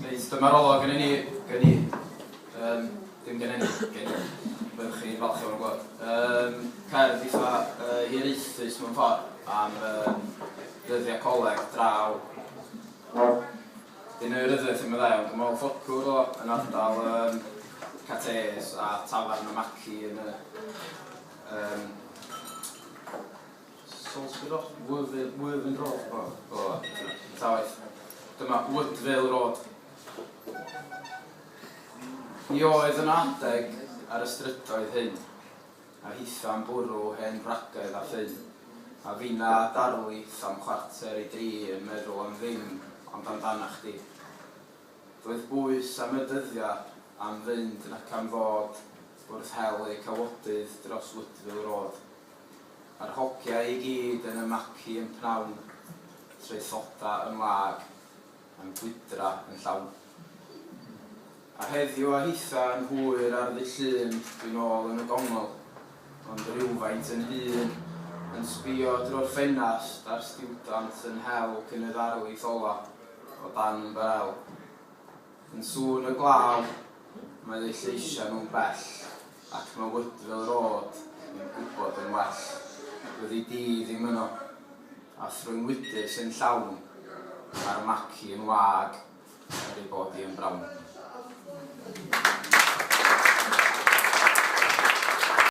Reit, dyma'r olwg yn ni, gen i. Um, dim gen i, gen i. Byddwch chi'n falch o'r gwybod. Um, cerdd eitha uh, hiraethus mewn ffordd am um, ddyddiau coleg draw. Dyn nhw'n ryddiaeth yn meddai, ond dwi'n meddwl ffocwr o yn ardal um, Cates a Tafarn y Maci yn y um, Salisbury Road, Worthing Road, o, o, ta waeth. Dyma Woodvale Road. Ni oedd yn adeg ar y strydoedd hyn, a hitha'n bwrw hen wragedd a ffyn, a finna a darlith am chwarter i dri yn meddwl am ddim ond amdanach chdi. Doedd bwys am y dyddia am fynd nac am ddod wrth hel eu cawodydd dros Woodvale Road. Mae'r hogiau i gyd yn ymlacu yn pnawn, traethoda yn wag, a'n gwydra yn llawn. A heddiw a hitha yn hwyr ar ddydd Llun dwi'n nôl yn y gongl, ond rywfaint yn hŷn, yn sbio drwy'r ffenast ar stiwdant yn hel cyn y ddarlith ola' o dan ymbarel. Yn sŵn y glaw, mae eu lleisiau nhw'n bell, ac mae Woodville Road yn gwybod yn well. Byddi di ddim yno, a thrwy'n wydr sy'n llawn, mae'r maci yn wag, er ei bod hi yn brown.